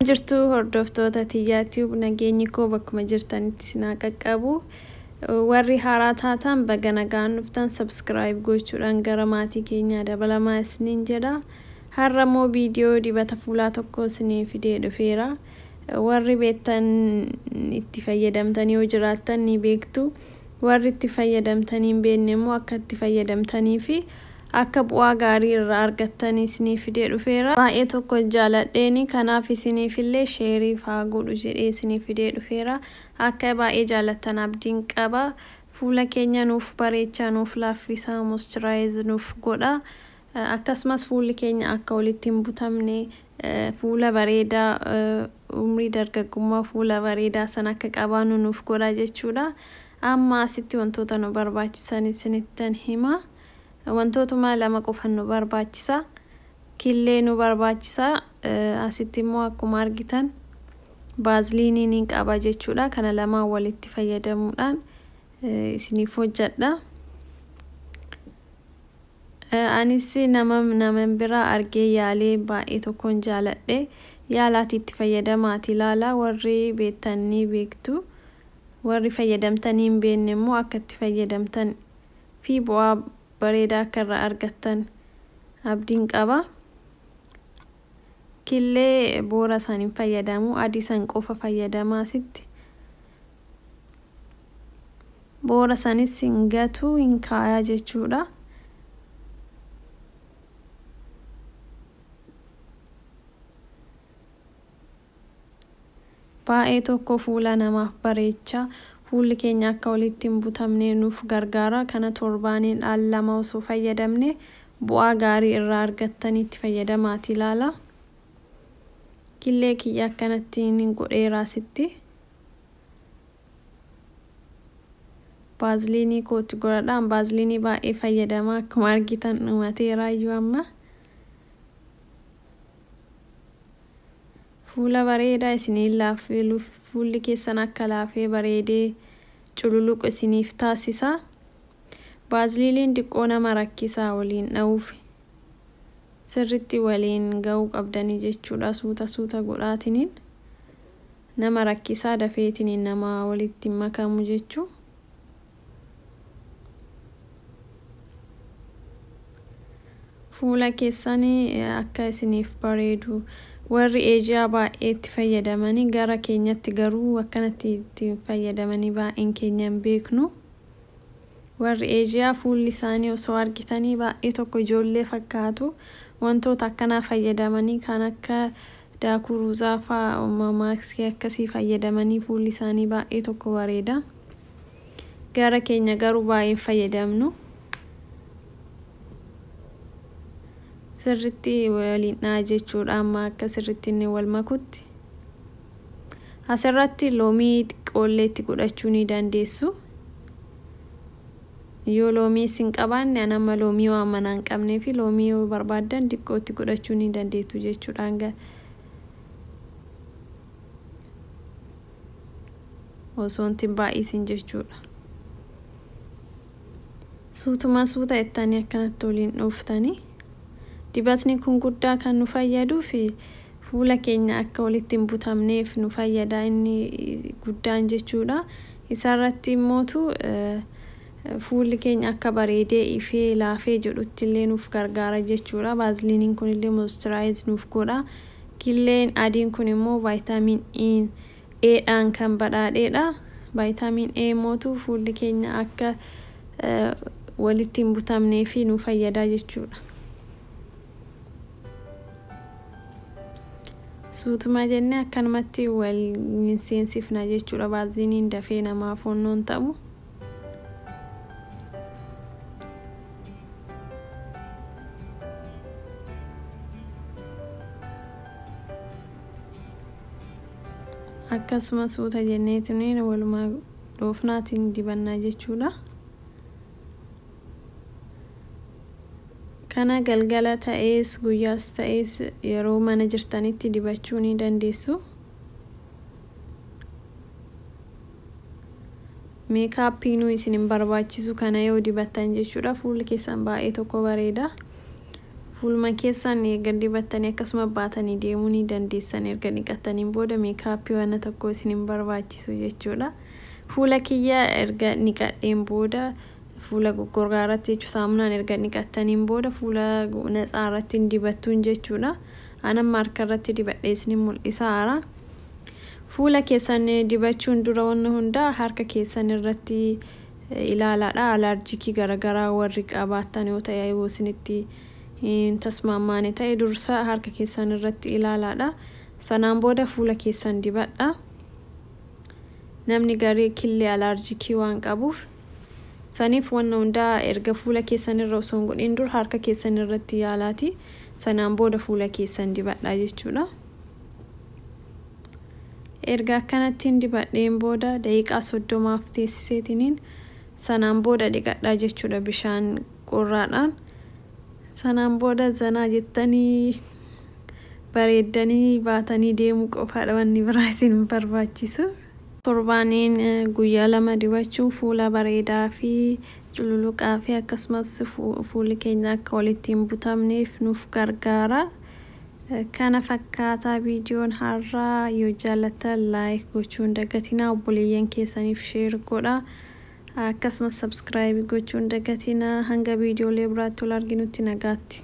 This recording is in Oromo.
jirtu hordoftoota tiyyaa tiyuub nageenyi koo bakkuma jirtanitti sinaa qaqqabu warri haaraa taataan baga nagaan dhuftan sabskiraayib gochuudhaan gara maatii keenyaa dabalamaa isiniin jedha har'a immoo viidiyoo dibata fuulaa tokko isinii fidee dhufeera warri beektan itti fayyadamtanii yoo jiraattan ni beektu Warri itti fayyadamtanii hin beekne immoo akka itti fayyadamtanii fi akka bu'aa gaarii irraa argattan isinii fidee dhufeera. Baay'ee tokko jaaladheeni kanaaf isiniif illee sheeriif haa godhu jedhee isinii fidee dhufeera. Akka baay'ee jaalattan abdiin qaba. Fuula keenya nuuf bareechaa, nuuf laaffisaa, moisturize nuuf godhaa. Akkasumas fuulli keenya akka walitti hin butamne, fuula bareedaa, umrii dargaggummaa fuula bareedaa sana akka qabaannu nuuf godha jechuudha. Amma asitti wantoota nu barbaachisan isinittan hima. Wantootuma lama qofan nu barbaachisa. Killee nu barbaachisa. Asitti immoo akkuma argitan baaziliinii niin qaba jechuudha. Kana lamaan walitti fayyadamuudhaan isiniif hojjedha. Anis nama naman biraa argee yaalee baay'ee tokkon jaaladhe yaalaati itti fayyadamaati laala warri beektan ni beektu warri fayyadamtanii hin beekne immoo akka itti fayyadamtan fi bu'aa bareedaa akka irraa argattan abdiin qaba killee boora san hin fayyadamu adii san qofa fayyadamaa sitti boora sanis hin gatuu hin kaayaa jechuudha. Baay'ee tokko fuula namaaf bareecha. Fuulli keenya akka walitti hin butamne nuuf gargaara. Kana torbaaniin al lama osoo fayyadamne bu'aa gaarii irraa argattanii itti fayyadamaati ilaala. Killee kiyya akkanatti hin godheeraa sitti. Baaziliinii koo itti goradha. An baaziliinii baay'ee fayyadama. Akkuma argitan dhumateeraayyuu amma. Fuula bareedaa isiniin laaffiluuf fuulli keessan akka laafee bareedee cululuqu isiniif taasisa. Baaziliiniin diqqoo nama rakkisaa waliin dha'uuf sirritti waliin ga'uu qabdanii jechuudha suuta suuta godhaatiniin. Nama rakkisaa dafeetiniin namaa walitti hin makamu jechuu Fuula keessani akka isiniif bareedu Warri Asia baay'ee itti fayyadamani gara keenyatti garuu akkanatti itti hin fayyadamani baay'een keenya hin beeknu Warri Asia fuulli isaanii osoo argitanii baay'ee tokko ijoollee fakkaatu wantoota akkanaa fayyadamani kan akka Daakuu ruuzaa faa maaskii akkasii fayyadamanii fuulli isaanii baay'ee tokko bareeda. Gara keenya garuu baay'ee hin fayyadamnu. Sirritti waliin dha'a jechuudha amma akka sirritti inni wal makutti. Asirratti loomii xiqqoollee itti godhachuu ni dandeessu. Yoo loomii isin qabaanne an amma loomii waan manaa hin qabneefi loomii yoo barbaaddan diqqoo itti godhachuu ni dandeettu jechuudhaan ga osoo itti hin baay'isin jechuudha. Suutuma suuta ittanii akkanatti waliin dhooftanii. Dibatni kun guddaa kan nu fayyaduu fi fuula keenya akka walitti hin butamneef nu fayyada inni guddaan jechuudha. Isarratti immootu fuulli keenya akka bareedee ifee laafee jedhutti illee nuuf gargaara jechuudha. Baaziliiniin kun illee moistiraayis nuuf godha. Killeen adiin kun immoo vaayitaamiin I'n A dhaan kan badhaadhee dha. Vaayitaamiin A mootu fuulli keenya akka walitti hin butamnee fi nu fayyadaa jechuudha. Suutuma jennee akkanumatti wal hin seensifna jechuudha. Vaaziliiniin dafee namaa foonnoon ta'u. akkasuma suuta jennee tuniin walumaa dhoofnaatiin dibannaa jechuudha kana galgala ta'ees guyyaas ta'ees yeroo mana jirtanitti dibachuu ni dandeessu Meekaappiinuu isin hin barbaachisu kana yoo dibattan jechuudha. Fuulli keessan baay'ee tokko bareeda. Fuuluma keessan erga dibattanii akkasuma baatanii deemuu ni dandeessan. Erga dhiqattaniin booda meekaappii wanna tokko isin hin barbaachisu jechuudha. Fuula kiyya erga dhiqadheen booda fuula goggorgaa irratti jechuun saamunaan erga dhiqattaniin booda fuula natsaa irratti hin dibattuun jechuudha. Anan maarka irratti dibadhee isin mul'isaara. Fuula keessan dibachuun dura wanna hundaa harka keessan irratti ilaalaadha alaarjiikii garagaraa warri qabaattan yoo ta'e yoo isinitti hin tasmaammaane ta'e dursa harka keessan irratti ilaalaadha sanaan booda fuula keessan dibadha namni garii killee alaarjiikii waan qabuuf saniif wanna hundaa erga fuula keessan irra osoo hin godhin dura harka keessan irratti yaalaati sanaan booda fuula keessan dibadha jechuudha. Erga akkanattiin dibadheen booda daqiiqaa 30f teessiseetiniin sanaan booda dhiqadhaa jechuudha bishaan qorraadhaan. Sanaan booda zanaa jettanii bareeddanii baatanii deemuu qofaadha wanni biraa isin hin barbaachisu. Torbaaniin guyyaa lama dibachuun fuula bareedaa fi cululuqaa fi akkasumas fuulli keenya akka walitti hin butamneef nuuf gargaara. Kana fakkaata viidiyoon har'aa yoo jaallattan like gochuu hin dagatinaa obboleeyyan keessaniif share godha akkasumas subscribe gochuu hin dagatinaa hanga viidiyoolee biraatti wal arginutti nagaatti.